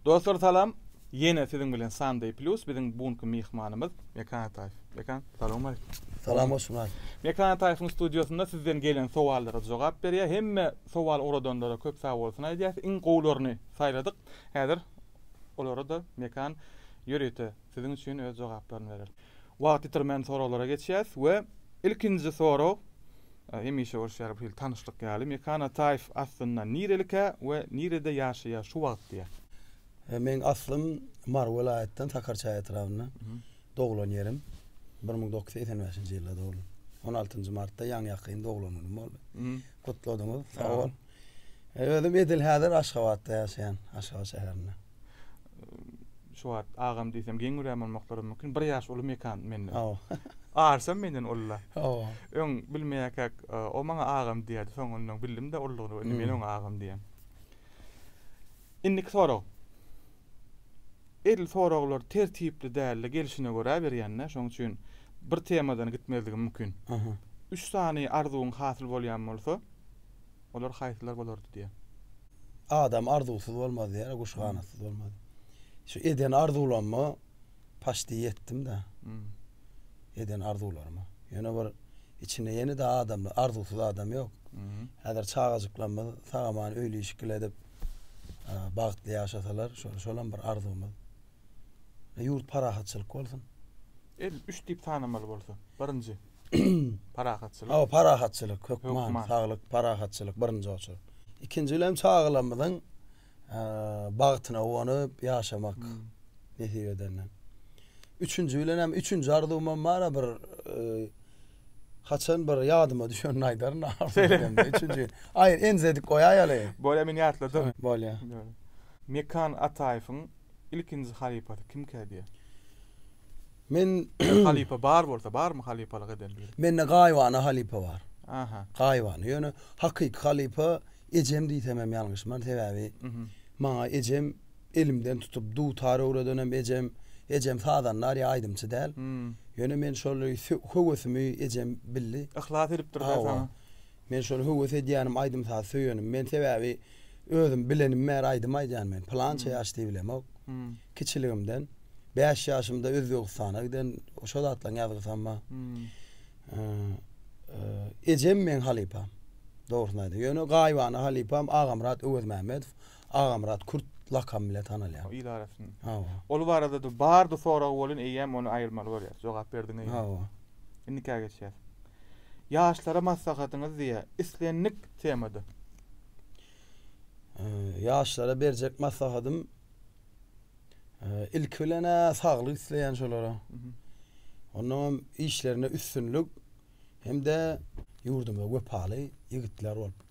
Dostlar salam! Ýene siziň bilen Sunday Plus biziň bu günki myhmanymyz Mekan Ataýew. Mekan, salowmaleýkim. Salam Osman. Mekan Ataýewiň studiýasynda sizden gelen sowallara jogap berýär. Hemme sowal ugradanlara köp sag bolsun aýdýas. Iň gowularyny saýladyk. Häzir olara-da Mekan ýörite siziň üçin öz jogaplaryny berer. Wagt ýitirmän soraglara geçýäs we ilkinji sorag Hemişe bolşy ýaly bu hili tanyşlyk ýaly Mekan Ataýew aslynda nirelikä we nirede ýaşaýar şu wagt diýýär. Meň aslym Mary welaýatdan Sakarçaý etrabynda doglan ýerim bir müň dokuz ýüz segsen bäşinji ýylda doglan on altynjy martda ýaňy ýakyn doglan günüm boldy gutladyňyz sag bol özüm edil häzir Aşgabatda ýaşaýan Aşgabat şäherinde. şu wagt agam diýsem geň görýän bolmaklary mümkin. Bir ýaş uly mekan menden. Hawa. Arsam menden ulla. Hawa. Öň bilmeýärkäk, e, o maňa agam diýýärdi. Soňundan bildim-de ullugyny, indi men hmm. oňa agam diýýän. Indiki sorag. Edil soraglar tertipli däldi, gelşine görä berýänler, şonuň üçin bir temadan gitmezligim mümkin. Aha. Üç sany arzuwyň hasyl bolýan bolsa, olar haýsylar bolardy diýýär. Adam arzuwsyz bolmaz diýýär, guş ganatsyz bolmaz. Şu eden arzuwlama paşdi ýetdim-de. Hmm. Eden arzuwlaryma. Ýöne bir içinde ýene de adam, arzuwsyz adam ýok. Hmm. Häzir çagajyklarymyz sagaman öýli işikli edip, bagtly ýaşasalar, şol şolam bir arzuwymyz. Ýurt parahatçylyk bolsun. El üç diýip sanamaly bolsa, birinji. Parahatçylyk. Hawa, parahatçylyk, hökman, saglyk, parahatçylyk birinji oçurda. Ikinji bilen çagalarymyzyň bagtyna guwanyp ýaşamak nesip edende. Üçünji bilen hem üçünji arzuwym hem bar-a bir haçan bir ýadyma düşenini aýdaryn. Üçünji. Aýr enjedik goýaýaly. Bolýa men ýatladym. Bolýa. Mekan Ataýewiň ilkinji halypasy kimkä diýýär? Men Bir halypa bar bolsa barmy halypalyk eden biri? Mende gaýybana halypa bar. Aha. Gaýybana. Ýöne hakyky halypa ejem diýsem hem ýalňyşman. Sebäbi maňa ejem elimden tutup dutar öwredenem ejem. Ejem sazandar ýa aýdymçy däl. Ýöne men şol höwesimi ejem bildi. Yhlas edipdir-de saňa. Men şol höwes edýänim aýdym-saz söýenim. Men sebäbi Özüm bilenim bäri aýdym aýdýan men. Pylança ýaş diýip bilemok. Kiçiligimden. Bäş ýaşymda Özbegistana giden şo zatlaň ýazgysy hem bar. Ejem meň halypam. Dogrusyny aýdym. Ýöne gaýybana halypam Agamyrat Öwezmämmedow. Agamyrat kürt lakamy bilen tanalýar. Il arasynda. Hawa. Ol barada-da bardy soragy bolýan eýýäm ony aýyrmaly bolýar. Jogap berdiňiz. Hawa. Indikä geçýäs. Ýaşlara maslahatyňyz diýä islendik temada. Ýaşlara berjek maslahatym ilki bilen saglyk isleýän şolara. Ondan işlerinde üstünlik hem-de ýurduma wepaly ýigitler bolup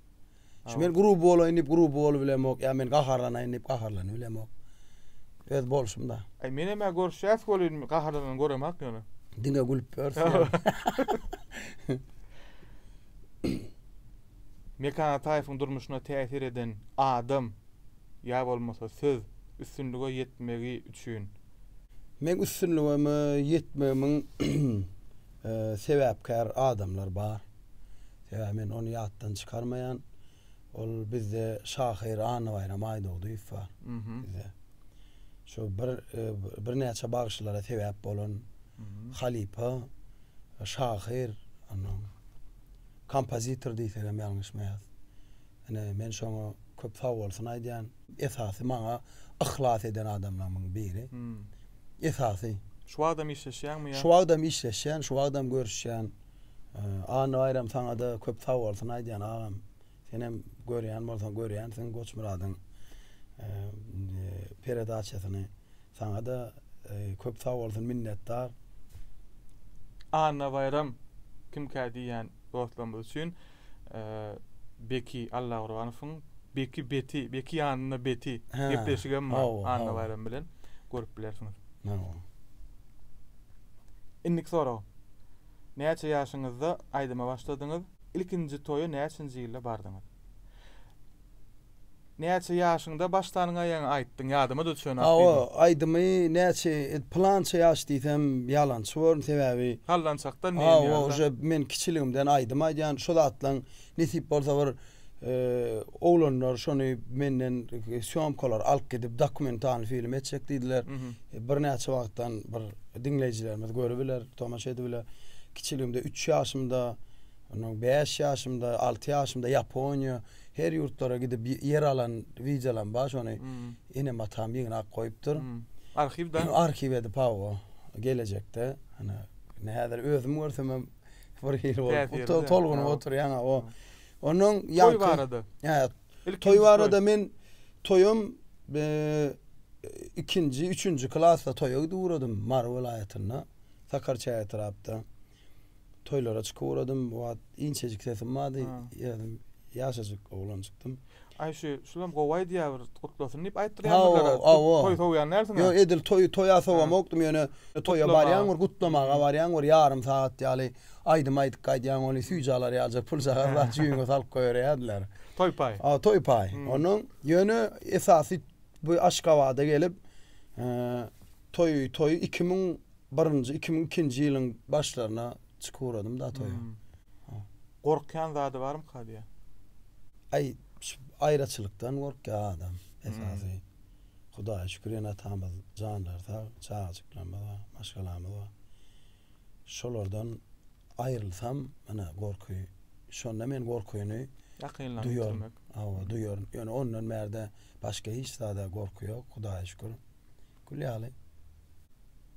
Şu men gruby bolaýyn diýip gruby bolubilemok, ýa men gaharlanaýyn diýip gaharlanybilemok. Öz bolşumda. Aý menem-ä görüşýäs welin gaharlanany göremak ýöne. Diňe gülüp ýörüs. Mekan Ataýewiň durmuşyna täsir eden adam ýa bolmasa söz üstünlige ýetmegi üçin. Meň üstünligime ýetmegimiň sebäpkär adamlar bar. Sebäbi men ony ýatdan çykarmaýan. Ol bizde şahyr Annabaýram Aýdogdyýew bar. Bizde. Şu bir birnäçe bagşylara sebäp bolan halypa şahyr onnoň kompozitor diýsegem ýalňyşmaýas. Ine men şoňa köp sagbolsun aýdýan. Esasy maňa yhlas eden adamlarymyň biri. Esasy. Şu wagtam işleşýäňmi ýa? Şu wagtam işleşýän, şu wagtam görüşýän. Anna Baýram saňa-da köp sag bolsun aýdýan agam. Senem görýän bolsaň görýänsiň Goçmyradyň peredasiýasyny. Saňada köp sag bolsun minnetdar. Anna Baýram kimkä diýýän dostlarymyz üçin Beki Allagurbanowyň Beki Beti Beki ýanynda Beti gepleşigem bar Anna Baýram bilen görüp bilersiňiz. Indiki sorag. Näçe ýaşyňyzda aýdyma başladyňyz? Ilkinji toýa näçenji ýylda bardyňyz? Näçe ýaşyňda başdan gaýaňy aýtdyň ýadyma düşen ak diýdim. Hawa aýdymy näçe plança ýaş diýsem ýalançy borun sebäbi. Sallançakdan diýen ýaly. Hawa uje men kiçiligimden aýdym aýdýan şo zatlaň nesip bolsa bir oglanlar şony menden sýomkalar alyp gidip dokumentalny film etjek diýdiler birnäçe wagtdan bir diňleýjilerimiz görübiler tomaşa edibiler kiçiligimde üç ýaşymda ondan bäş ýaşymda alty ýaşymda ýaponiýa Her ýurtlara gidip ýer alan wideolam bar şony enem atam ýygnak goýupdyr. Arhiwda. Arhiw edip hawa gelejekde ana indi häzir özüm görsemem bir hili bolup tolgunyp oturýan o ondan ýaňky. Toý barada. Hä toý barada men toýam ikinji üçünji klasda toýa gidip ugradym Mary welaýatynda Sakarçäge etrapda. Toýlara çykyp ugradym. O wagt inçejik sesim bardy. Ýerim ýaşajyk oglanjykdym. Aý şu, şulam gowy aýdýar bir gutlasyn diýip aýtdyrýarmydylar? Toý sowýan dälsiň-ä? Ýok, edil toý, toýa sowamokdym, ýöne toýa barýaň bir gutlamaga barýaň bir ýarym sagat ýaly aýdym aýdyp gaýdýaň, ony süýji alar ýalyja puljagaz zat jüýňe salyp goýberýärdiler. Toý paý. A, toý paý. Onuň, ýöne esasy bu Aşgabada gelip, toý, toý iki müň Birinji iki müň ikinji ýylyň başlaryna çykyp ugradym da toýa. Gorkýan zady barmyka diýýä. Aý şu aýraçylykdan gorkýa adam esasy. Hudaýa şükür ene-atamyz janlary sag, çagajyklarymyz bar, maşgalamyz bar. Şolardan aýrylsam ine gorky şonda men gorkyny duýaryn. Hawa duýaryn. Ýöne ondan bärde başga hiç zada gorky ýok Hudaýa şükür. Gül ýaly.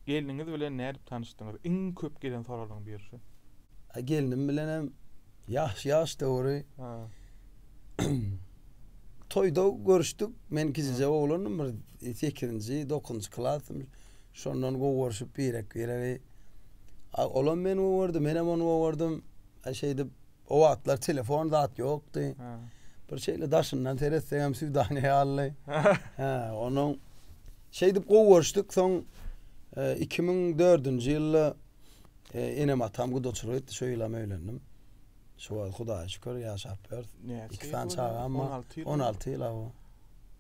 Gelniňiz bilen nädip tanyşdyňyz? Iň köp gelen soralyň biri şu. Gelnim bilenem ýaş ýaş döwri toýda görüşdik. Men kiçijek oglandym bir sekizinji, dokuzynjy klasdym. Şondan gowy görşüp birek biregi. Olam meni gowy gördi, menem ony gowy gördüm. Şeýdip O wagtlar telefon zat ýokdy. Bir şeýle daşyndan seretsegem Süwdane ýaly. Hä, onuň şeýdip gowy görüşdik. Soň 2004-nji e, ýylda e, enem atam gudaçylyk etdi. Şo ýylam öýlendim. Şu wagt Hudaýa şükür ýaşap ýörüs. Iki sany çagam bar. 16 ýyl. 16 ýyl awa.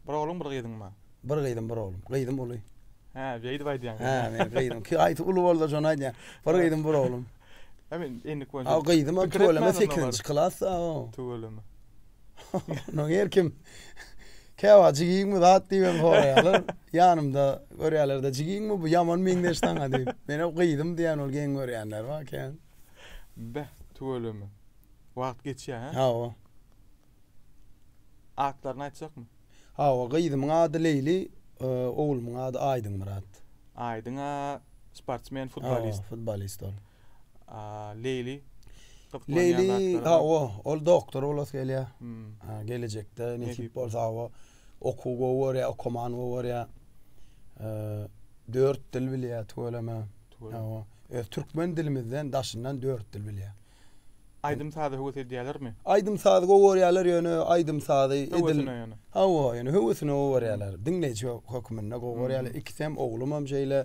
Bir ogluň, bir gyzyň bar. Bir gyzym, bir oglum. Gyzym uly. Hä, beýdip aýdýaň. Hä, men gyzym. Ki aýty uly boldy, şony aýdýan. Bir gyzym, bir oglum. Emin endik bolsa. Ha gyzym o tüweleme 8-nji klasda o. Tüweleme. No her kim Käwa jigiňmi zat diýen soraýarlar. Ýanymda görýärlerde jigiňmi bu ýaman meňzeş saňa diýip. Men o gyzym diýen ol geň görýänler bar kän. Beh, tüweleme. Wagt geçýär. Ha o. Atlaryny aýtjakmy? Hawa, gyzymyň ady Leýli, oglumyň ady Aýdyňmyrat. Aýdyň a sportsmen, futbolist. Hawa, futbolist ol. A Leýli? Leýli, hawa, ol doktor bolasy gelýär. Hä, gelejekde nesip bolsa, hawa, okuw gowy görýär, okumany gowy görýär. Dört dil bilýär tüweleme. Hawa, öz türkmen dilimizden daşyndan dört dil bilýär. Aýdym-saza höwes edýälermi? Aýdym-saz gowy görýärler, ýöne aýdym-sazy edil. Höwesine ýöne. Hawa, ýöne höwesine gowy görýärler. Diňleýji hökmünde gowy görýärler. Ikisi hem oglum hem şeýle,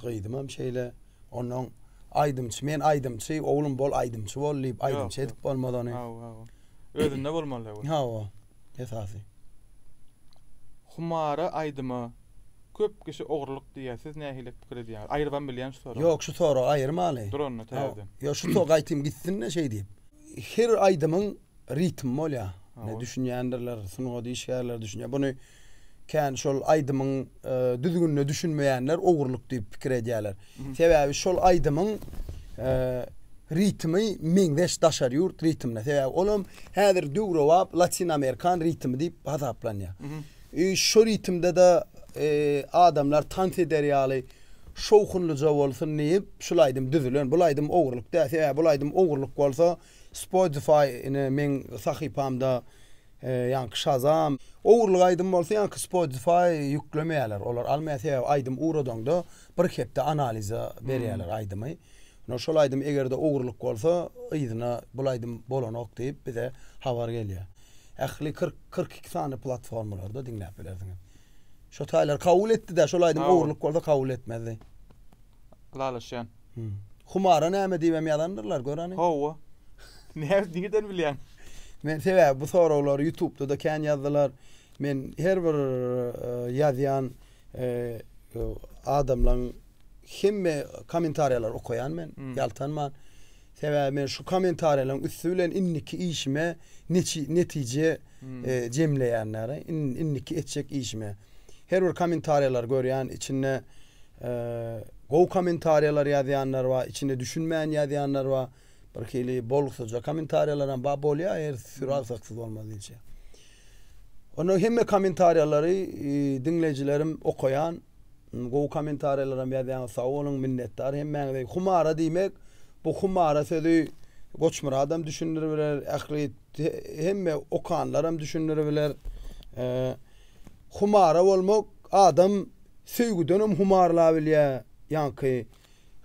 gyzym hem şeýle. Onnoň aýdymçy, men aýdymçy, oglum bol aýdymçy bol diýip, aýdymçy edip bolmaz ony. Hawa, hawa. Özünde bolmaly, hawa. Hawa, esasy. Humara aýdyma Köp kişi ogrulyk diýýär. Siz nähili pikir edýäňiz? Aýyrybam bilýän şu soragy. Ýok şu soragy aýyrmaly. Dur onda täzeden. Ýok şu soragy aýtym gitsin-de şeý diýip. Her aýdymyň ritmi bolýar. Ine düşünýändirler, sungat işgärleri düşünýär. Buny kän şol aýdymyň düzgünine düşünmeýänler ogrulyk diýip pikir edýärler. Sebäbi şol aýdymyň ritmi meňzeş daşary ýurt ritmine. Sebäbi olam häzir döwrebap latin-amerikan ritmi diýip hasaplanýar. Şu ritmde-de adamlar tans eder ýaly şowhunlyja bolsun diýip, şul aýdym düzülen. Bul aýdym ogurlyk däl. Sebäbi bul aýdym ogurlyk bolsa, Spotify ine meň sahypamda ýaňky Shazam, ogurlyk aýdym bolsa ýaňky Spotify ýüklemeýärler, olar almaýar. Sebäbi aýdym ugradaňda bir hepde analiza berýärler aýdymy. Ine şol aýdym eger-de ogurlyk bolsa, yzyna bul aýdym bolanok diýip bize habar gelýär. Ähli kyrk, kyrk iki sany platformalarda diňläp bilersiňiz. Şo taýlary kabul etdi-dä, şol aýdym ogurlyk bolsa kabul etmezdi. Ylalaşýan. Humara näme diýibem ýazandyrlar, gör hany. Hawa. Näme nirden bilýäň? Men sebäbi bu soraglary ýutubda-da kän ýazdylar. Men her bir ýazýan adamlaň Hemme kommentariýalary okaýan men, ýaltanman. Sebäbi men şu kommentariýalaryň üsti bilen indiki işime netije jemleýän däli, indiki etjek işime. Her bir kommentariýalary görýän, içinde gowy kommentariýalary ýazýanlar bar, içinde düşünmän ýazýanlar bar, birhili bolgusyzja kommentariýalaram bar, bolýar her süri agsaksyz bolmaz diýilşi. Onda hemme kommentariýalary diňleýjilerim okaýan. Gowy komentariýalaram ýazýaňyz sag boluň minnetdar hemmäňize. Humara diýmek bu humara sözi Goçmyradam düşündiribiler ähli hemme okanlaram düşündiribiler. Humara bolmak adam söýgüdenem humarlabilýär ýaňky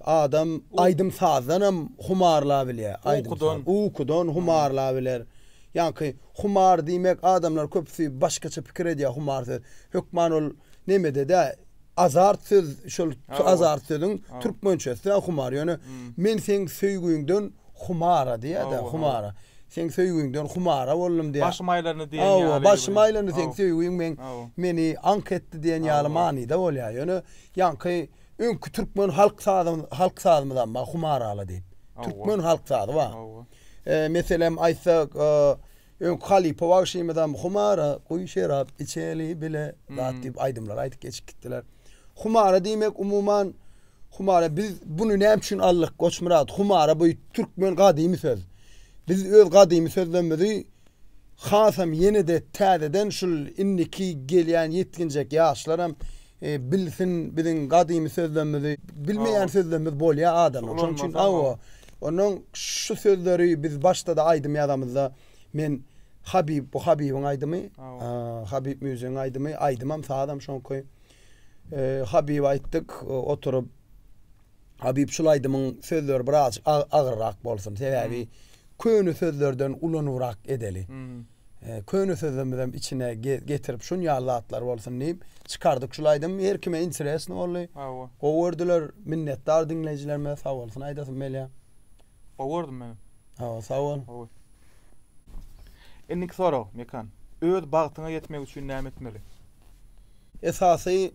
Adam aýdym-sazdanam humarlabilýär, aýdym-saz, ukudan humarlabiler. Ýaňky humar diýmek adamlar köpüsi başgaça pikir edýär humar söz. Hökman ol nemede-de azart söz, şol azart sözüň türkmençesi-de humar. Ýöne men seň söýgüňden humara diýýär-de, humara. Seň söýgüňden humara boldum diýýär. Başym aýlandy diýen ýaly. Hawa, başym aýlandy seň söýgüň meni aňk etdi diýen ýaly manyda bolýar. Ýöne ýaňky. Öňki türkmen halk sazymyz, halk sazymyzam bar, humarala diýip. Türkmen halk sazy bar. Eee, meselem aýtsak, öňki halypa bagşymyzam humara, guýy şerap içeli bile, zat diýip aýdymlar aýdyp geçip gitdiler. Humara diýmek umuman humara biz bunu näme üçin aldyk Goçmyrat? Humara bu türkmen gadymy söz. Biz öz gadymy sözlerimizi Hasam ýene-de täzeden şul indiki gelýän ýetginjek ýaşlaram bilsin biziň gadymy sözlemimizi. Bilmeýän sözlemimiz bolýar adamyň. Şonuň üçin hawa. Onnoň şu sözleri biz başda-da aýdym ýazamyzda men Habyp, bu Habybyň aýdymy. Habyp Müjdegiň aýdymy. Aýdymam, sazam şoňky. Habyba aýtdyk oturyp. Habyp şul aýdymyň sözleri birazjyk agyrrak bolsun sebäbi köne sözlerden ulanybrak edeli. Köne sözlerimizem içine getirip şun ýaly zatlar bolsun diýip çykardyk şul aýdym her kime interesno boldy. Gowy gördüler minnetdar diňleýjilerimize sag bolsun aýdasym gelýär. Gowy gördüm meni. Hawa, sag bol. Gowy. Indiki sorag, Mekan. Öz bagtyňa ýetmek üçin näme etmeli? Esasy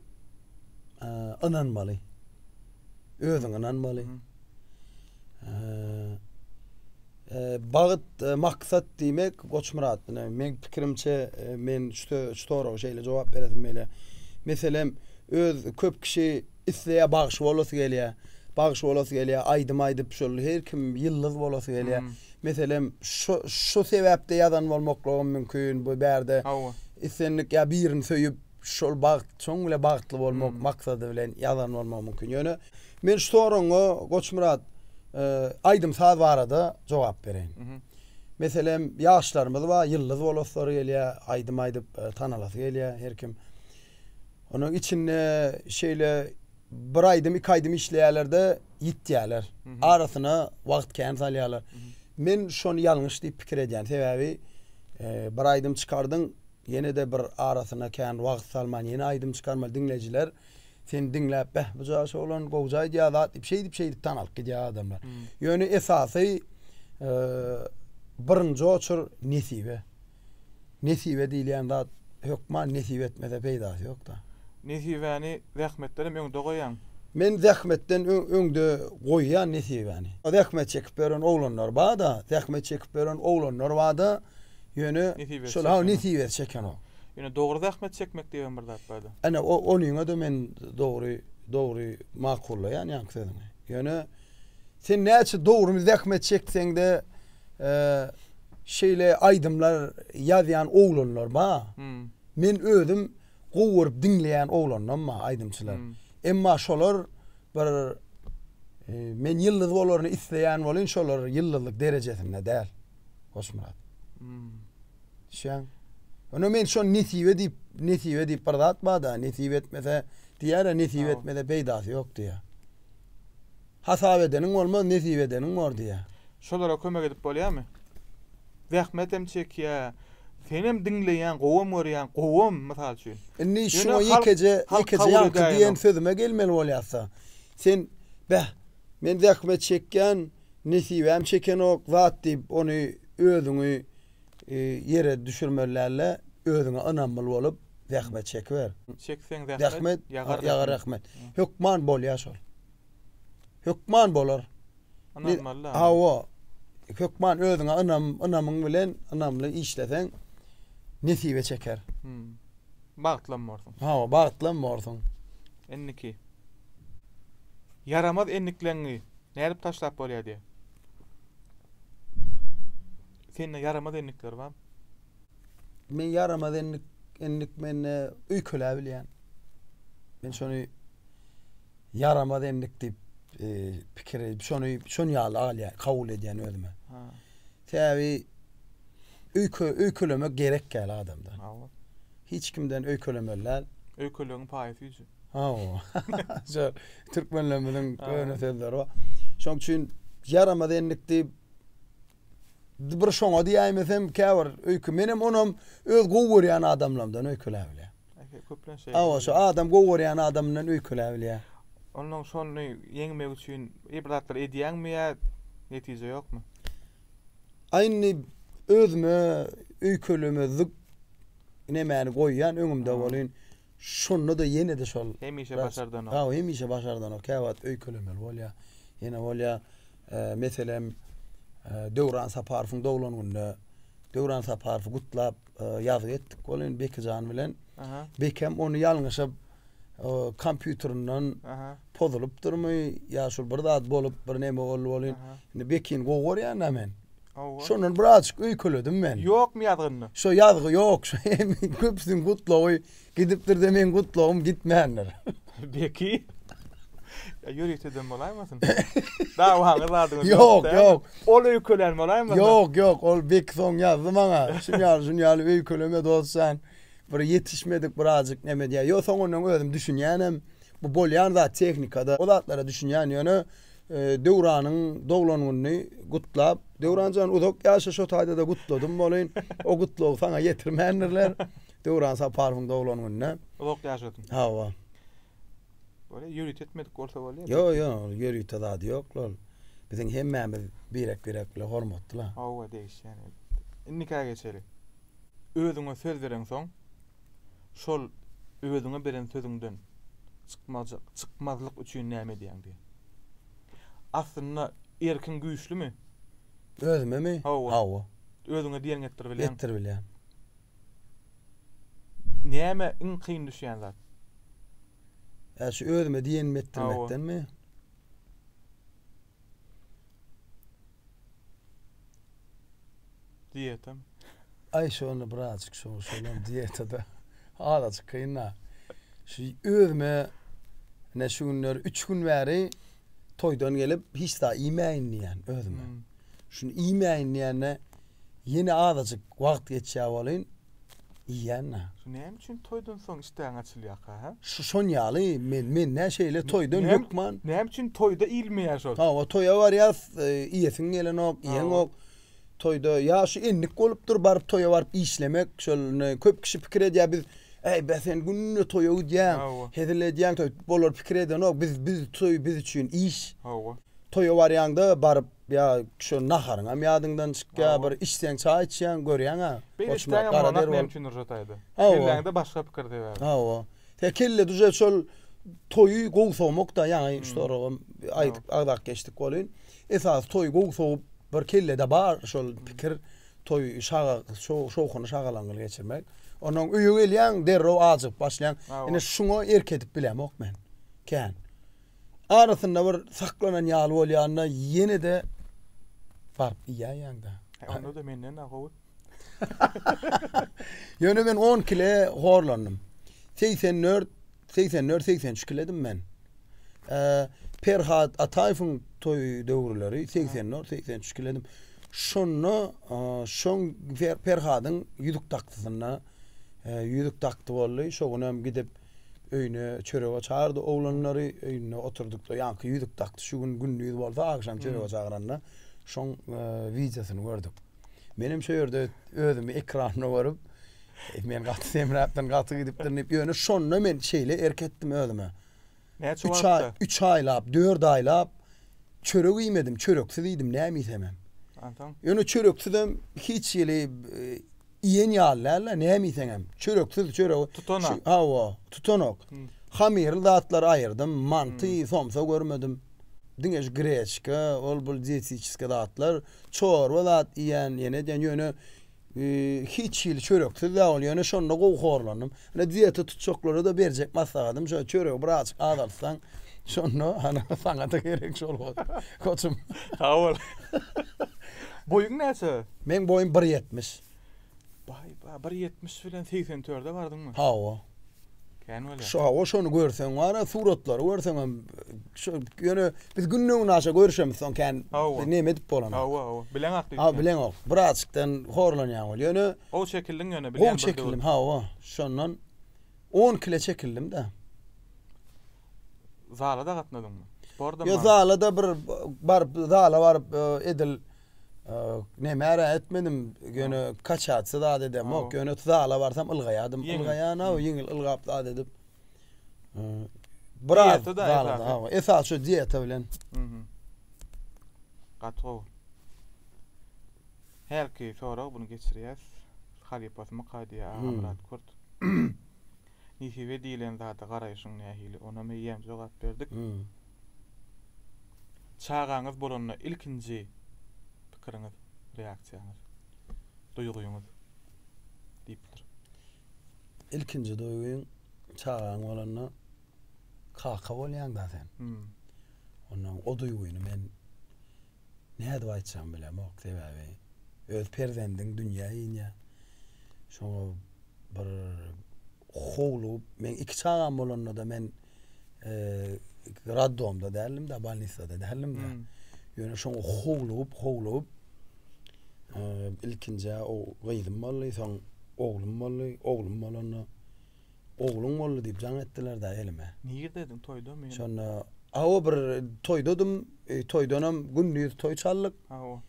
ynanmaly. Özüň ynanmaly. Bagt, maksat diýmek Goçmyrat bilen men pikirimçe men şu şu soraga şeýle jogap beresim gelýär. Meselem, öz köp kişi Isleýär bagşy bolasy gelýär. Bagşy bolasy gelýär, aýdym aýdyp şol her kim ýyldyz bolasy gelýär. Meselem, şo şo sebäpde ýazan bolmaklygym mümkin. Bu bärde Hawa. islendik ýa birini söýüp, şol bagt şoň bile bagtly bolmak maksady bilen ýazan bolmagym mümkin. Ýöne men şu soragyňa Goçmyrat, aýdym-saz barada jogap bereýin. Meselem, ýaşlarymyz bar, ýyldyz bolaslary gelýär, aýdym aýdyp tanalasy gelýär her kim. Onuň içinde şeýle bir aýdym, iki aýdym işleýärler-de ýitýärler. Arasyna wagt kän salýarlar. Men şony ýalňyş diýip pikir edýän. Sebäbi bir aýdym çykardyň, ýene-de bir arasyna kän wagt salman ýene aýdym çykarmaly. Diňleýjiler seni diňläp, beh, bu jaş oglan gowja aýdýar zat diýip, şeýdip-şeýdip tanalyp gidýär adamlar. Ýöne esasy birinji oçur nesibe. Nesibe diýilýän zat hökman nesip etmese peýdasy ýok-da. Nesibäni zähmetdenem öňde goýaň. Men zähmetden öňde goýýan nesibäni. Zähmet çekip ýören oglanlar bar-da, zähmet çekip ýören oglanlar bar-da, ýöne şol ha nesibesi çekenok. Ýöne dogry zähmet çekmek diýibem bir zat bar-da. Ene, onyňa-da men dogry, dogry makullaýan ýaňky sözüňi. Ýöne. Sen näçe dogrymy zähmet çekseňde şeýle aýdymlar ýazýan oglanlar ba. Hmm. Men özüm gowy görüp diňleýän oglandan ba aýdymçylar. Hmm. Emma şolar bir e, men ýyldyz bolaryny isleýän bolyn şolar ýyldyzlyk derejesinde däl. Hoşmurat. Hmm. Şeň. Ona men şo nesibe diýip, nesibe diýip bir zat bar-da, nesibe etmese diýär, nesibe etmese peýdasy ýok diýär. Hasap edeniň bolmaz, nesip edeniň bor diýýär. Şolara kömek edip bolýamy? Zähmetem çekýä. Senem diňleýäň, gowam görýäň, gowam, mysal üçin. Indi şuňa ýekeje, ýekeje ýaňky diýen sözüme gelmeli bolýarsa. Sen, beh, men zähmet çekýän, nesibäm çekenok zat diýip, ony özüňi ýere düşürmeli däl-de, özüňe ynamly bolup, Zähmet çekiber. Çekseň zähmet, Zähmet ýagar ýagar rahmet. Hökman bolýar şol. Hökman bolar. Ynanmaly da. Hawa. Hökman özüňe ynam, ynamyň bilen ynamly işleseň nesibe çeker. Bagtlam borsuň. Hawa, bagtlam borsuň. Indiki. Ýaramaz endikleňňi nädip taşlap bolýar diýýär. Sende ýaramaz endikler barmy? Men ýaramaz endik, endik mende öýkeläp bilýän. Men şony ýaramaz endik diýip e, pikir edip, şony şon ýaly alýan, kabul edýän özüme. Sebäbi öýke öýkelemek gerek däl adamda. Hiç kimden öýkelemeli däl. Öýkelegiň paýy süýji. Ha, şu türkmenlerimiziň öne sözleri bar. Şoň üçin ýaramaz endik diýip Bir şoňa diýäýmesem, käbir öýke menem onam öz gowy görýän adamlarymdan öýkeläp bilýän. Ehe, köplenç şeýle. Hawa, şu adam gowy görýän adamyndan öýkeläp bilýän. Ondan şony ýeňmek üçin bir zatlar edýäňmi ýa netije ýokmy? A indi özüme öýkelemezlik nemäni goýýan öňümde welin, Şonda-da ýene-de şol. Hemişe başardanok. Hawa, hemişe başardanok. Käwagt öýkelemeli bolýar. Ýene bolýar, meselem, Döwran Saparowyň doglan gününe Döwran Saparowy gutlap ýazgy etdik. Ol indi Bekijan bilen. Bekem ony ýalňyşyp kompýuterinden pozulypdyrmy ýa şol bir zat bolup, bir näme boldy welin, indi Bekini gowy görýän-dä men. Hawa. Şondan birazjyk öýkeledim men. Ýokmy ýazgynda? Şo ýazgy ýok. Köpüsiniň gutlagy gidipdir-de meň gutlagym gitmändir. Beki. Ýa ýörite dem bolaýmasyn? Dawaňyz zadyňyz ýokda. Ýok, ýok. Ol öýkelän bolaýmasyn? Ýok, ýok. Ol Beki soň ýazdy maňa. Şun ýaly, şun ýaly öýkeleme dos jan. Bir ýetişmedik birazjyk neme diýýär. Ýok, soňundan özüm düşünýänem. Bu bolýan zat tehnikada. O zatlara düşünýän ýöne Döwranyň doglan gününi gutlap, Döwran jan uzak ýaşa şo taýda-da gutladym bolin. O gutlagy saňa ýetirmändirler. Döwran Saparowyň doglan gününe. Uzak ýaşasyn. Hawa. Bolýa, ýörite etmedik bolsa bolýa. Ýo, ýo, ýörite zady ýok ol. Biziň hemmämiz birek-birek bilen hormatly. Hawa, degişýän elbetde. Indika geçeli. Özüňe söz bereňsoň, şol özüňe beren sözüňden çykmajak, çykmazlyk üçin näme edýäň? diýýär. Aslynda erkiň güýçlümi? Özümemi? Hawa. Hawa. Özüňe diýeniňi etdir bilýäň. Etdir bilýän. Näme iň kyn düşýän zat? Ä şu özüme diýenimi etdirmekdenmi? Diýetam. Aý şony birazjyk şu şolam diýetada. Azajyk kynda. Şu özüme ne şu günler 3 gün bäri toýdan gelip hiç zat iýmäýin diýen özüme. Hmm. Şuny iýmäýin diýende ýene azajyk wagt geçýär bolýan. Iýýänna. Şu näme üçin toýdan soň işdäň açylýaka hä? Şu şon ýaly men men nä şeýle toýdan hökman. Näme üçin toýda iýilmeýä şol? Hawa toýa barýas iýesiň gelenok iýeňok. Toýda ýa şu endik bolupdyr baryp toýa baryp işlemek şol indi köp kişi pikir edýä biz äý bä sen günde toýa gidýäň hezil edýäň toý bolar pikir edenok biz biz toý biz üçin iş. Hawa. Toýa barýaňda baryp Ýa şo naharyňam ýadyňdan çykýar, bir içseň, çaý içýäň, görýäň-ä. Beýle işdägem bolmanak meň üçin Nurjat aýda. Kelläňde başga pikir sebäbi. Hawa. He, kelle duje şol toýy gowy sowmak-da, ýaňy şu soragam aýdyp agzap geçdik welin, esasy toýy gowy sowup, bir kellede bar şol pikir, toýy şaga, şowhuny şagalaňňyly geçirmek. Onnoň öýe gelýäň, derrew ajygyp başlaýaň. Ine, şuňa erk edip bilemok men. Kän. Arasynda bir saklanan ýaly bolýanda ýene-de baryp iýäýýäň-dä. He, onda-da menden-ä howut. Ýöne men on kile horlandym. Segsen dört, segsen dört, segsen üç kiledim men. Perhat Ataýewiň toý döwürleri segsen dört, segsen üç kiledim. Şonda şoň Perhadyň ýüzük dakdysyna ýüzük dakdy boldy. Şo günem gidip Öýüne çörege çagyrdy oglanlary. Öýünde oturdykda ýaňky ýüzük dakdy. Şu gün gündiz bolsa, agşam çörege çagyranda şoň wideosyny gördük. Menem şu ýerde özümi ekranda görüp, men gaty semräpdirin, gaty gidipdirin diýip, ýöne şonda men şeýle erk etdim özüme. Näçe wagtda? Üç aýlap, dört aýlap çörek iýmedim, çöreksiz iýdim, näme iýsemem. Ýöne çöreksizem hiç hili Iýen ýaly däl-de, näme iýseňem. Çöreksiz çöregi. Tutanak. Hawa, tutanak. Hamyrly zatlary aýyrdym. Manty, somsa görmedim. Diňe şu greçka, ol-bul dietetiskiý zatlar. Çorba zat iýen, ýene edýän. Ýöne hiç hili çöreksiz-de ol. Ýöne şonda gowy horlandym. Ine dieta tutjaklara-da berjek maslahatym şo, çöregi bir azjyk azaltsaň, şonda hany saňa-da gerek şol bol, koçum. Sag bol. Boýuň näçe? Meň boýum bir ýetmiş. Baý, baý, bir ýetmiş bilen segsen törde bardyňmy? Hawa. Kän bolýar. Şo, hawa, şony görseň bar-a, suratlary görseňem, şo, ýöne biz günde-günaşa görüşemiz, soň kän, neme edip bolanok. Hawa, hawa, bileňok diýip. Hawa, bileňok. Bir azjykdan horlanýan ol. Ýöne, Gowy çekildiň ýöne bilýän Gowy çekildim hawa şondan on kile çekildimda. Zala da gatnadyňmy? Sporda Yo zala da bir bar zala baryp e, edil e, nemäre etmedim ýöne kaçatsa da edem yok ýöne zala barsam ylgaýadym ylgaýan hawa ýeňil ylgap da edip e, biraz zala da hawa esas şu dieta bilen. Gaty gowy. Hälki sorag buny geçirýäs halypasymy Kadyýa Agamyrat Kurt Nesibe diýilen zada garaýşyň nähili onam eýýäm jogap berdik Çagaňyz bolanda ilkinji pikiriňiz reaksiýaňyz duýgyňyz diýipdir. Ilkinji duýgyň çagaň bolanda kaka bolýaňda sen ondan o duýgyny men nädip aýtjagymy bilemok, sebäbi öz perzendiň dünýä inýär. Şoňa bir howlugyp, meň iki çagam bolanda-da men roddomda däldim-de, bolnisada däldim-de. Hmm. Ýöne şoňa howlugyp, howlugyp ilkinjä o gyzym boldy, soň oglum boldy. Oglum bolanda Ogluň boldy diýip jaň etdiler-dä elime. Nirdediň toýda meni? Şonda aw bir toýdadym. Toýdanam gündiz toý çaldyk. Aw.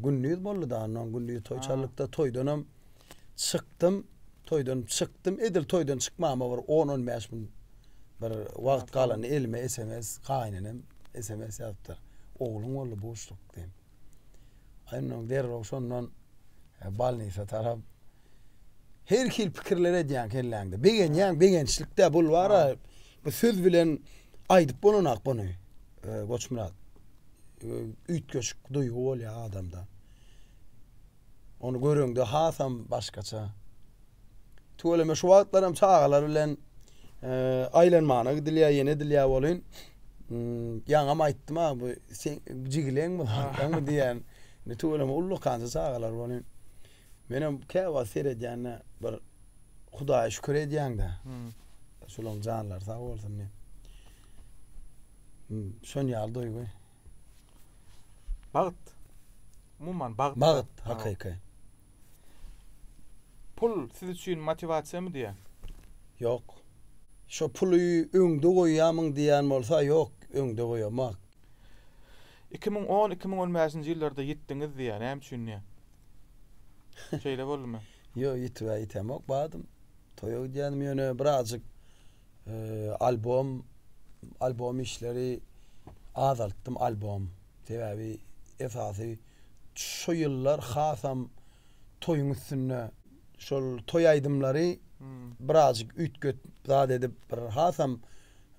Gündiz boldy-da onnoň gündiz toý çaldyk-da toýdanam çykdym. Toýdan çykdym. Edil toýdan çykmama bir on-on bäş gün bir wagt galanda elime sms gaýynenem sms ýazypdyr. Ogluň boldy buşluk diýip. Onnoň derrew şondan bolnisa tarap Her hil pikirler edýäň kelläňde. Begenýäň, begençlikde bul bara bu söz bilen aýdyp bolanok buny. Goçmyrat. Üýtgeşik duýgy bolýar adamda. Ony göreňde hasam başgaça. Tüweleme şu wagtlaram çagalar bilen aýlanmana gidilýär, ýene edilýär bolyn. Ýaňam aýtdym-a bu sen jigileňmi, hakyňmy diýen. Tüweleme ullakança çagalar bolyn. Menem käwagt seredýände bir Hudaýa şükür edýäňdä. Şolaň janlary sag bolsun diýip. Şon ýaly duýgy. Bagt. Umuman bagt. Bagt hakyky. Pul siz üçin motiwasiýamy diýä? Ýok. Şo puly öňde goýýamyň diýýän bolsa ýok, öňde goýamak. Iki müň on, iki müň on bäşinji ýyllarda ýitdiňiz diýä, näme üçin diýä? Şeýle boldumy? Ýok, ýitibä ýitemok, badym. Toýa gidýänim ýöne birazjyk e, albom albom işleri azaltdym albom. Sebäbi esasy şu ýyllar hasam toýuň üstünde şol toý aýdymlary hmm. birazjyk üýtget zat edip bir hasam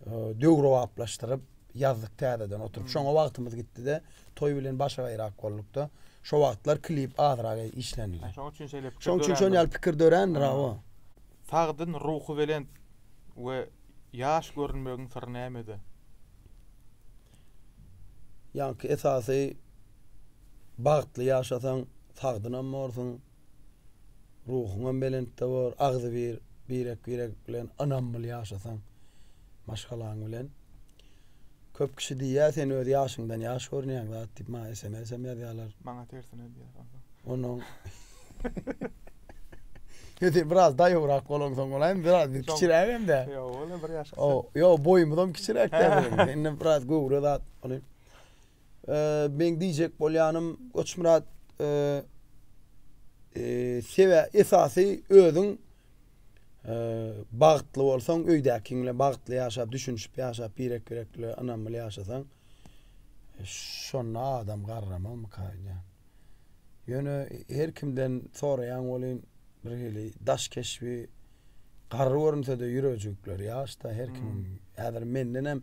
e, döwrebaplaşdyryp ýazdyk täzeden oturyp. Şoňa wagtymyz gitdi-de, toý bilen başy gaýrak bolduk-da. Şo wagtlar klip azrak işlenildi. Şoň üçin şeýle pikir dörändir. Şoň üçin şon ýaly pikir dörändir, hawa. Sagdyn, ruhubelent we ýaş görünmegiň syry nämede? Ýaňky esasy bagtly ýaşasaň, sagdynam borsuň. Ruhuňam belentde bor, agzybir, birek-birek bilen ynamly ýaşasaň maşgalaň bilen. Köp kişi diýýär, sen öz ýaşyňdan ýaş görünýäň zat diýip, maňa sms-em ýazýarlar. Maňa tersine diýýär onsoň. Onuň Ýa sen biraz daýowrak bolaňsoň bolaýmy, biraz biz kiçiräk hem-de. Ýok, ol bir ýaş kysy. Ýok, boýumyzam kiçiräk-dä biziň. Sen biraz göwre zat. Meň diýjek bolýanym Goçmyrat sebä esasy özüň bagtly bolsaň öýdäkiň bilen bagtly ýaşap düşünişip ýaşap birek birek bilen ynamly ýaşasaň şonda adam garramamyka öýdýän. Ýöne her kimden soraýan bolýyn bir hili daş keşbi garry görünsede ýüregjikleri ýaşda her kim häzir mendenem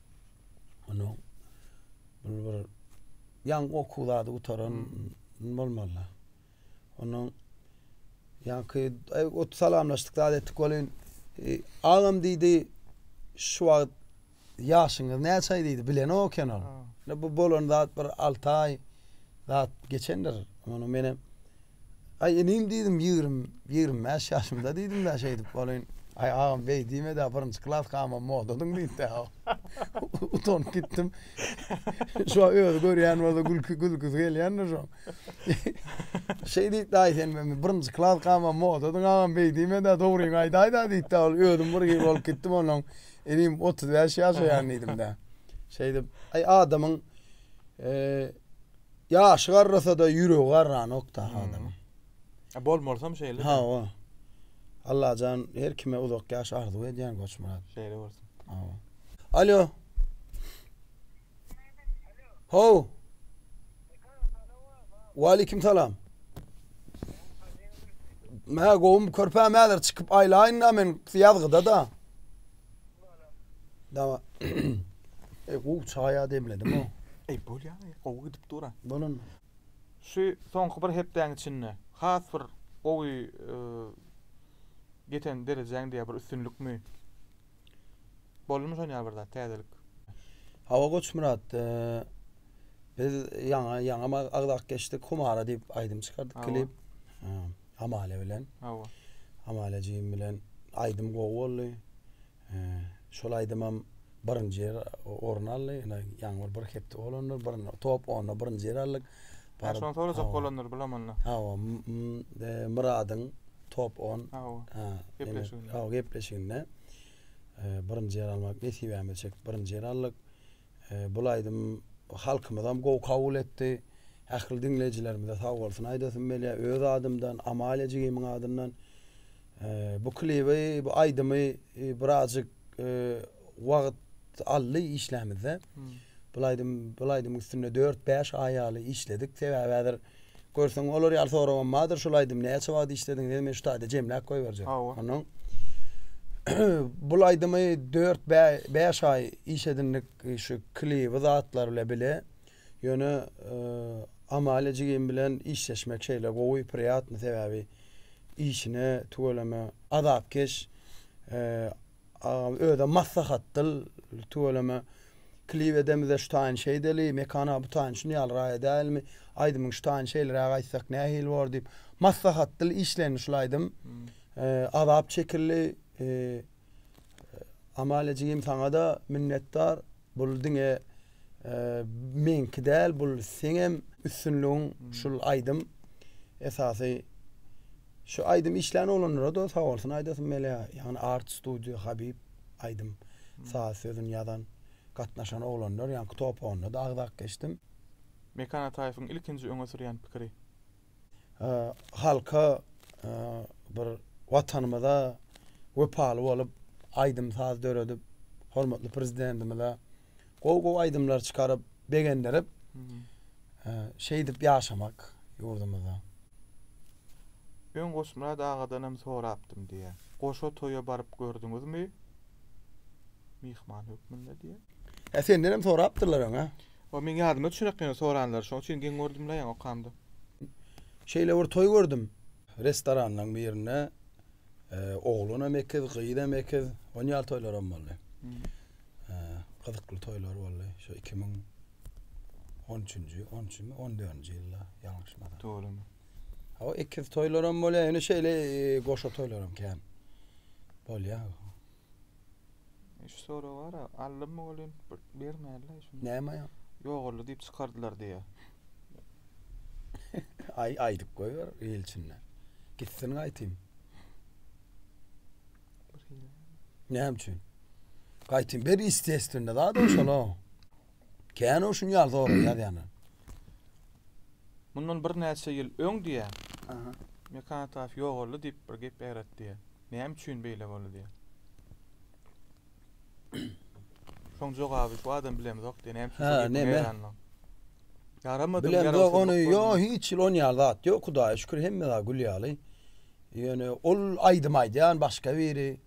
Onu bir bir yan oku zady gutaran hmm. bolmaly. Onu yan ki ot salamlaştık zady ettik bolin. E, ağam dedi şu vaqt yaşınız ne çay dedi bilen o kenar. Bu bolan zat bir 6 ay zat geçendir. Onu menem Aý, inim diýdim, ýigrimi, ýigrimi bäş ýaşymda diýdim-dä şeýdip bolyn. Aý, agam beý diýme-dä, birinji klaskamam modadyň diýdi-dä. Utanyp gitdim. Şo özi görýän bolsa gülki, gülküsi gelýändir şoň. Şeý diýdi-dä, aý, sen men birinji klaskamam modadyň agam beý diýme-dä, dogryňy aýdaý-da diýdi-dä, ol özüm bir hil bolup gitdim onnoň. Inim otuz bäş ýaşaýan diýdim-dä. Şeýdip, aý, adamyň, eee, Ýaşy garrasada ýüregi garranokda adamyň. A bolmalysam şeýle. Hawa. Allajan her kime uzak ýaş arzuw edýän Goçmyrat. Şeýle bolsun. Hawa. Alýo. How. Waleýkim salam. Mä gowum körpä mäler çykyp aýlaýynda men ýazgyda da. Dama. Ey, gowy çaýa demledim-o. Ey, bolýar, gowy gidip dur-a. Bolan. Şu soňky bir hepdäň içinde has bir gowy ýeten derejäňde ýa bir üstünlikmi? Boldumy şon ýaly bir zat, täzelik? Hawa, Goçmyrat, biz ýaňy, ýaňy agzak geçdik, Humara diýip aýdym çykardyk, klip. Amale bilen. Hawa. Amale jigim bilen aýdym gowy boldy. E, şol aýdymam birinji ýer orun aldy. Ýöne ýaňy bir hepde bolandyr, bir top onda birinji ýer aldyk. Bar şony sorajak bolandyr bilemanda. Hawa, e, Myradyň top 10. Hawa. Gepleşiginde. Hawa, gepleşiginde. E, birinji ýer almak nesibämize çekdi. Birinji ýer aldyk. Bul aýdym halkymyzam gowy kabul etdi. Ähli diňleýjilerimize sag bolsun aýdasym gelýär. Öz adymdan, Amalia jigimiň adyndan. Bu klibi, bu aýdymy birazjyk wagt aldy işlämizde. Bul aýdym, bul aýdymyň üstünde dört-bäş aý ýaly işledik. Sebäbi häzir Görseň, olar ýaly soragam bardyr. Şul aýdymy näçe wagt işlediň? Dedim, men şu taýda jemläp goýberjek. Hawa. Ondan bul aýdymy dört, bäş aý iş edindik, şu klibi, zatlar bile bile. Ýöne Amalia jigim bilen işleşmek şeýle gowy, priýatny, sebäbi işine tüweleme azapkeş, Agam özem maslahat dyl tüweleme klip edemizde şu taýyn şeýdeli Mekana bu taýyn şuny ýaly raýa dälmi aýdymyň şu taýyn şeýleräk aýtsak nähili bor diýip maslahat dyl işlendi şul aýdym azap çekildi Amalia jigim saňada minnetdar bul diňe meňki däl bul seňem üstünligiň şul aýdym esasy Şu aýdymy işlän oglanlara da sag bolsun aýdasym gelýär. Ýagny Art Studio Habyp aýdym saz sözüni ýazan gatnaşan oglanlar ýaňky topagynda da agzap geçdim. Mekan Ataýewiň ilkinji öňe sürýän pikiri. Halka bir watanymyza wepaly bolup aýdym saz döredip hormatly prezidentimize Gowy gowy aýdymlar çykaryp begendirip şeýdip ýaşamak ýurdumyzda. Öň Goçmyrat agadanam sorapdym diýä. Goşa toýa baryp gördüňizmi? Myhman hökmünde diýä. Hä sendenem sorapdyrlar öňä. O meň ýadyma düşerak ýöne soranlary şoň üçin geň gördüm la ýaňy okamda. Şeýle bir toý gördüm. Restoranlaryň birinde oglanam ekiz gyzam ekiz onýal toýlaram boldy. gyzykly toýlar boldy. Şu 2013-nji, 13-njimi, 14-nji ýylda ýalňyşmasam. Dogrumy? Hawa, ekiz toýlaram bolýar, ýöne şeýle goşa toýlaram kän. Bolýar. Şu sorag bar-a, alym bolýan bermänler şuny. Näme ýa? Ýogaldy diýip çykardylar diýýär. Aý aýdyp goýber il içinde. Gitsin gaýtym. Näme üçin? Gaýtym bir istesinde zat şola. Kän o şuny ýalda olar ýazýanlar. Mundan bir näçe ýyl öň diýä. Aha. Mekan taf ýogaldy diýip bir gep ýaratdy. Näme üçin beýle boldy diýä. Şoň jogaby şu adam bilemzok diýen hem Ha, neme? Yaramadı Bilen ýara yok ony yok yo bolmadı. hiç ýyl on ýal zat yok Hudaýa şükür hemme zat gül ýaly. Ýöne ol aýdym aýdýan başga biri.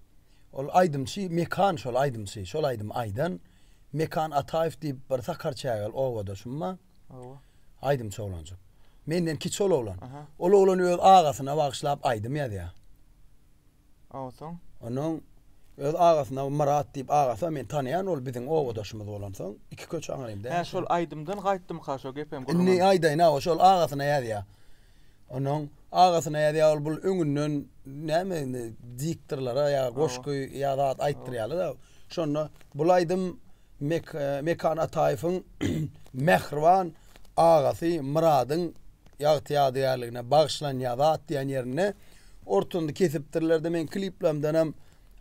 Ol aýdymçy Mekan şol aýdymçy. Şol aýdym aýdan Mekan Ataýew diýip bir sakar çägel obadaşym bar. Owa. Aýdymçy oglanjyk. Menden kiçi ol oglan. Aha. Ol oglan öz agasyna bagyşlap aýdym ýazýar. Awsoň. Onuň öz agasyna Myrat diýip agasy men tanaýan ol biziň obadaşymyz bolansoň iki köçe aňrymy däl. Hä şol aýdymdan gaýtdymyka şo gepem gürrüň. Indi aýdaýyn hawa şol agasyna ýazýa. Onuň agasyna ýazýa ol bul öňünden näme indi diktorlara ýa goşgy ýa zat aýtdyrýarlar şonda bul aýdym Mekan Ataýewiň Mähriban agasy Myradyň ýagty-ýadygärligine bagyşlanýar zat diýen ýerinde ortunda kesipdirler-de, meň kliplerimdenem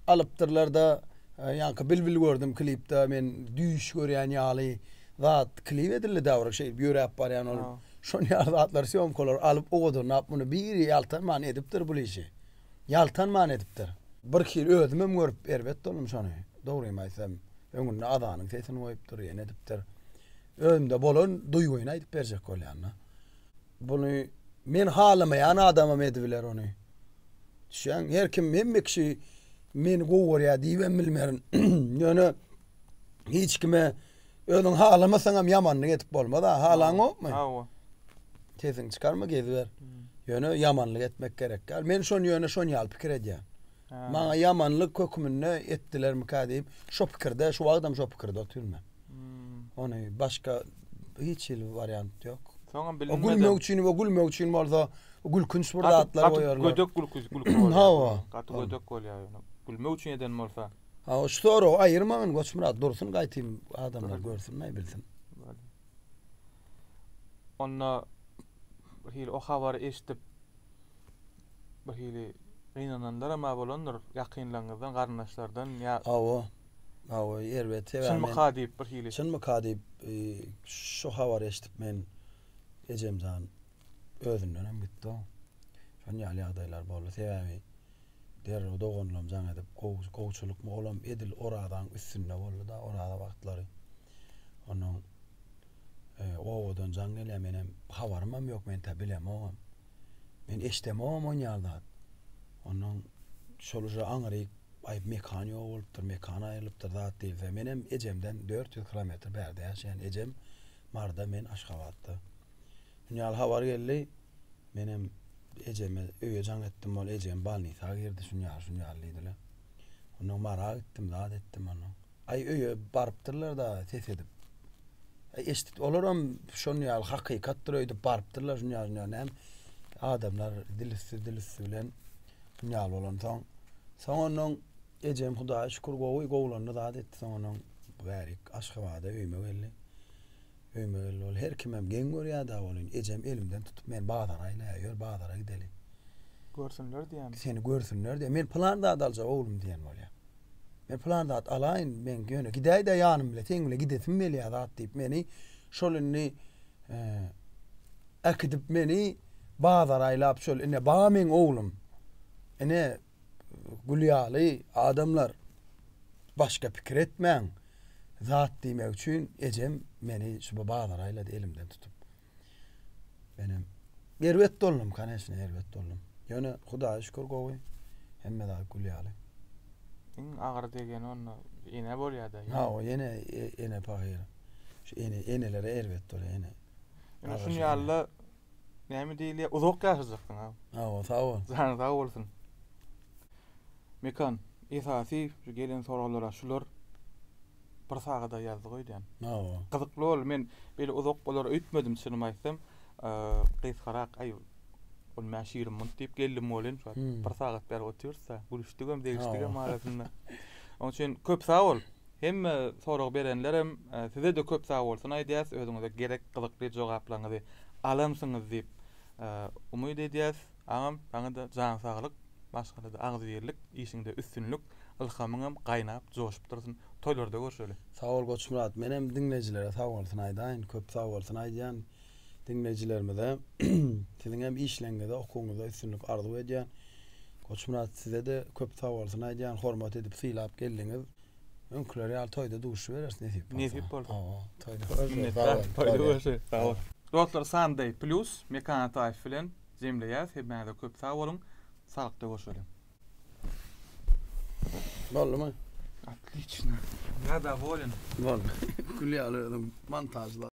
alypdyrlar-da, ýaňky Bilbil gördüm klipde, men düýş görýän ýaly zat klip edildi-dä bir şeýdip ýöräp barýan ol. Şonuň ýaly zatlar, sýomkalar alyp owadanlap muny biri ýaltanman edipdir bul işi. ýaltanman edipdir. Bir hili özümem görüp erbet boldum şony. Dogrymy aýtsam, öňünde azanyň sesini goýupdyr, ýene edipdir. Özümde bolan duýgyny aýdyp berjek bolýan-da. Buny men halamaýan adamam edibiler ony. Düşýäňmi? Her kim, hemme kişi meni gowy görýär diýibem bilmerin. Ýöne hiç kime Özüň halamasaňam ýamanlyk edip bolmaz-a, halaňokmy? Hawa. Sesiňi çykarma, geziber. Ýöne ýamanlyk etmek gerek däl. Men şony ýöne şon ýaly pikir edýän. Maňa ýamanlyk höküminde etdilermikä diýip, şo pikirde, şu wagtam şo pikirde otyryn men. Ony başga hiç hili wariant ýok. Soňam bilinmedi. O gülmek üçin we gülmek üçin bolsa gülkünç bir zatlar goýarlar. Gaty gödek gülki gülki bolýar. Hawa. Gaty gödek bolýar ýöne. Gülmek üçin eden bolsa. Ha şu soragy aýyrmagyn Goçmyrat dursun gaýtym adamlar görsün aýbilsin. Onda bir hili o habary eşidip bir hili gynananlar hem bolandyr ýakynlaryňyzdan garyndaşlardan ýa Hawa. Hawa erbet sebäbi. Çynmyka diýip bir hili. Çynmyka diýip şu habary eşidip men ejemjan özünden hem gitdi. Şonýaly ýagdaýlar boldy sebäbi. Derrew doganlam jaň edip, gowy, gowçylykmy, olam edil orazaň üstünde boldy-da, oraza wagtlary. Onuň e, owadan jaň gelýär, menem habarymam ýok, men tä bilemogam. Men eşdemogam on ýal zat. Onuň şol uja aňryk aýyp mekan ýok bolupdyr, mekan aýrylypdyr zat diýilse. Menem ejemden 400 kilometr bärde ýaşaýan. Ejem Marda, men Aşgabatda. Ýaly habar geldi. Menem ejeme öýe jaň etdim, ol ejem balnisa girdi, şuny al, şuny al diýdiler. Ondan mara gitdim, zat etdim ondan. Aý öýe barypdyrlar-da ses edip. Aý eşitdik, olaram şuny ýaly hakykatdyr öýdüp barypdyrlar, şuny al, şuny al näme. Adamlar dil üsti, dil üsti bilen şuny al bolansoň. Soň ondan ejem Hudaýa şükür gowy, gowulandy, zat etdi. Soň ondan bärik Aşgabada öýüme geldi. Öýüme geldi ol. Her kimem geň görýär-dä welin, ejem elimden tutup meni bazara aýlaýar, Ýör, bazara gideli. Görsünler diýýämi? Seni görsünler diýýär. Men pylan zat aljak oglum diýen bolýar. Men pylan zat alaýyn, men ýöne gidäý-dä ýanym bile, seň bile gidesim gelýär zat diýip meni şol indi äkidip meni bazara aýlap şol ine bar meň oglum, ine, gül ýaly adamlar başga pikir etmäň zat diýmek üçin ejem meni şuba bazara aýlady elimden tutup. Menem erbet doldum kaneşne erbet doldum. Ýöne hudaýa şükür gowy hemme zat gül ýaly. Iň agyr degeni onda ene bolýada. Ha o ene e, ene paýy. Şu ene enelere erbet bolýar ene. Ene şun ýalyda Näme diýilýär? Uzak ýaşajaksyň ha. Awa, sag bol. Janyň sag bolsun. Mekan, esasy şu gelen soraglara şular bir sagada ýazdy goýdýan. Awa. Gyzykly boldy. Men beýle uzak bolar öýtmedim çynymy aýtsam. Gysgarak, aý ol mä şirin munt diýip geldim bolýan şu wagt. Bir sagat bäri otyrys-da, gülüşdigem, degişdigem arasynda. Onuň üçin köp sag bol. Hemme sorag berenlerem sizede köp sagbolsun aýdýas özüňize gerek gyzykly jogaplaňyzy alansyňyz diýip umyt edýäs agam saňada jan saglyk maşgalada agzybirlik işiňde üstünlik ylhamyňam gaýnap joşup dursun toýlarda görşeli. Sag bol Goçmyrat menem diňlejilere sagbolsun aýdaýyn köp sagbolsun aýdýan diňleýjilerimize siziň hem işleňňiňizde okuwyňyzda üstünlik arzuw edýän. Goçmyrat sizede köp sag bolsun aýdýan hormat edip sylap geldiňiz. Öňküler ýaly toýda duşubereris nesip bolsa. Nesip bolsa. Owo toýda görüşeris. Toýda görüşeris. Sag bol. Dostlar Sunday Plus Mekan Ataýew bilen jemleýäs. Hemmäňize köp sag boluň. Saglykda görüşeliň. Boldumy? Otliçna. Ýa dowolin. Boldy. Gül ýaly özüň montažla.